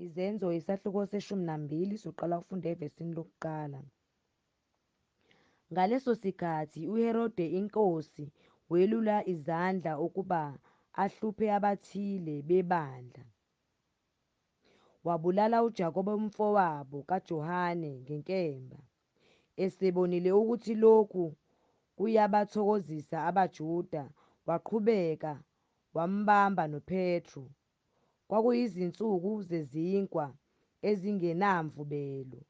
Izenzo, isahluko seshumi nambili, soqala ukufunda evesini lokuqala. Ngaleso sikhathi uHerode inkosi welula izandla ukuba ahluphe abathile bebandla. Wabulala uJakobe umfowabo kaJohane ngenkemba, esebonile ukuthi lokhu kuyabathokozisa abaJuda waqhubeka wambamba noPetru Kwakuyizinsuku zezinkwa ezingenamvubelo.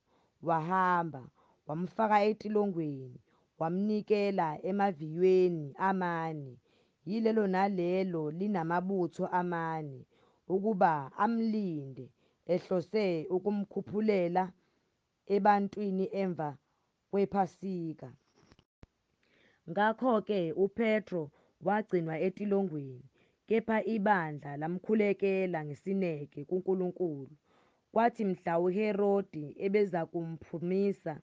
Wahamba, wamfaka etilongweni, wamnikela emaviyweni amane, yilelo nalelo linamabutho amane, ukuba amlinde, ehlose ukumkhuphulela ebantwini emva kwePhasika. Ngakho-ke uPetro wagcinwa etilongweni, kepha ibandla lamkhulekela ngesineke kuNkulunkulu. Kwathi mhla uHerodi ebezakumphumisa,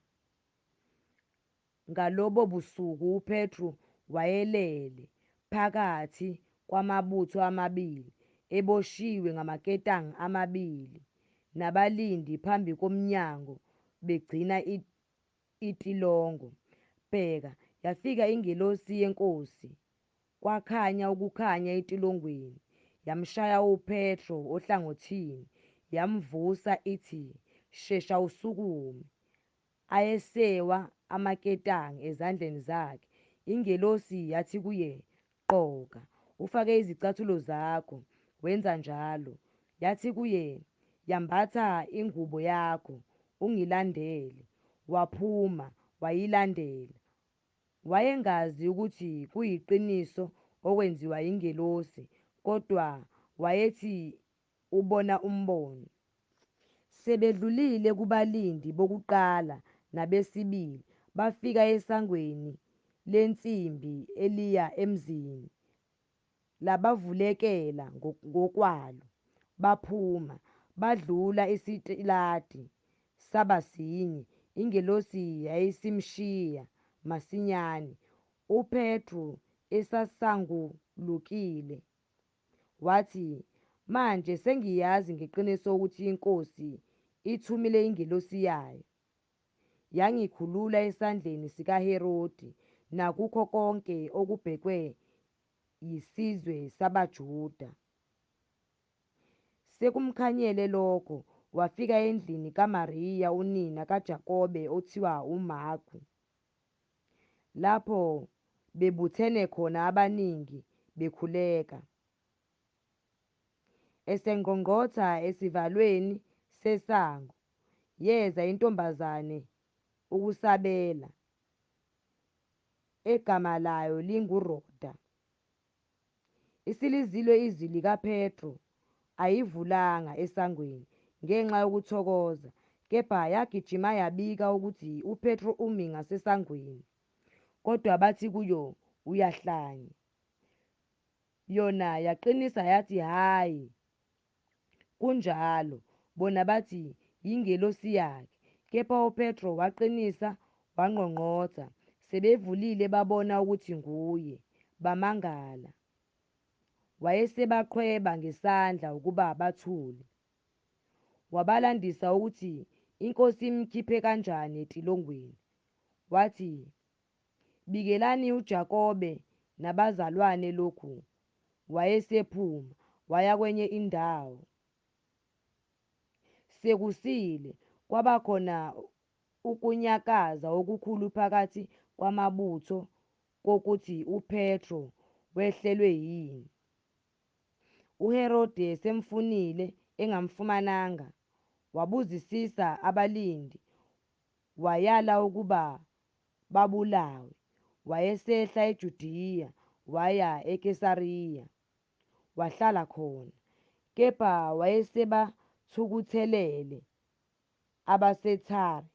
ngalobo busuku uPetru wayelele phakathi kwamabutho amabili, eboshiwe ngamaketanga amabili, nabalindi phambi komnyango begcina Itilongo. Bheka, yafika ingelosi yeNkosi, kwakhanya ukukhanya etilongweni, yamshaya uPetro ohlangothini, yamvusa, ithi, Shesha usukume. Ayesewa amaketanga ezandleni zakhe. Ingelosi yathi kuye, Gqoka, ufake izicathulo zakho. Wenza njalo. Yathi kuye, Yambatha ingubo yakho, ungilandele. Waphuma, wayilandela. Wayengazi ukuthi kuyiqiniso okwenziwa yingelosi, kodwa wayethi Ubona umbono. Sebedlulile kubalindi bokuqala nabesibili, bafika esangweni lensimbi eliya emzini, labavulekela ngokwalo, baphuma, badlula isitiladi, saba sinye, ingelosi yayisimshiya masinyane uPetru esasangulukile. Wathi, Manje sengiyazi ngeqiniso ukuthi iNkosi ithumile ingelosi yaYo. Yangikhulula esandleni sikaHerodi nakukho konke okubhekwe yisizwe sabaJuda. Sekumkhanyele lokho, wafika endlini kaMariya unina kaJakobe othiwa uMarku. lapho bebuthene khona abaningi bekhuleka. Esengqongqotha esivalweni sesango, yeza intombazane ukusabela, egama layo linguRhoda. Isilizilwe izwi likaPetru, ayivulanga esangweni ngenxa yokuthokoza, kepha yagijima yabika ukuthi uPetru umi ngasesangweni. Kodwa bathi kuyo, Uyahlanya. Yona yaqinisa yathi, Hhayi, Kunjalo, bona bathi yingelosi yakhe. Kepha uPetro waqinisa, wangqongqotha. Sebevulile babona ukuthi nguye, bamangala. Wayesebaqhweba ngesandla ukuba bathule. Wabalandisa ukuthi iNkosi imkhiphe kanjani etilongweni. Wathi, Bikelani uJakobe nabazalwane lokhu, Wayesephuma waya kwenye indawo. Sekusile, kwaba khona ukunyakaza okukhulu phakathi kwamabutho kokuthi uPetro wehlelwe yini. UHerode esemfunile engamfumananga, wabuzisisa abalindi, wayala ukuba babulawe, wayesehla eJudiya waya eKesariya, wahlala khona. Kepha wayesebathukuthelele abaseThire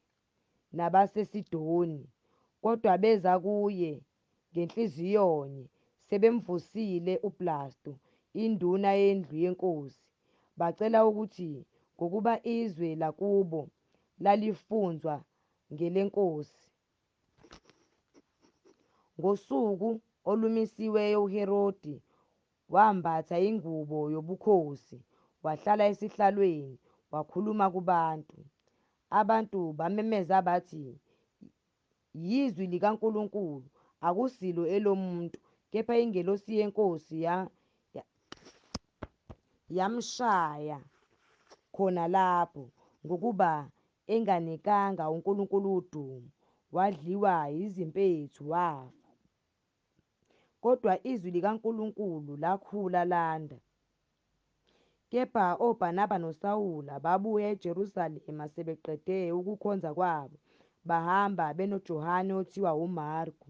nabaseSidoni, kodwa beza kuye ngenhliziyonye, sebemvusile uBlastu, induna yendlu yenkosi, bacela ukuthi ngokuba izwe lakubo lalifunzwa NgeleNkosi. Ngosuku olumisiweyo uHerodi wambatha ingubo yobukhosi, wahlala esihlalweni, wakhuluma kubantu. Abantu bamemeza bathi, Yizwi likaNkulunkulu, akusilo elomuntu, kepha ingelosi yeNkosi ya, ya, yamshaya khona lapho, ngokuba enganikanga uNkulunkulu udumo, wadliwa yizimpethu, wafa. Kodwa iZwi likaNkulunkulu lakhula landa. Kepha oBhanaba noSawula babuya eJerusalema sebeqede ukukhonza kwabo, bahamba benoJohane othiwa uMarku.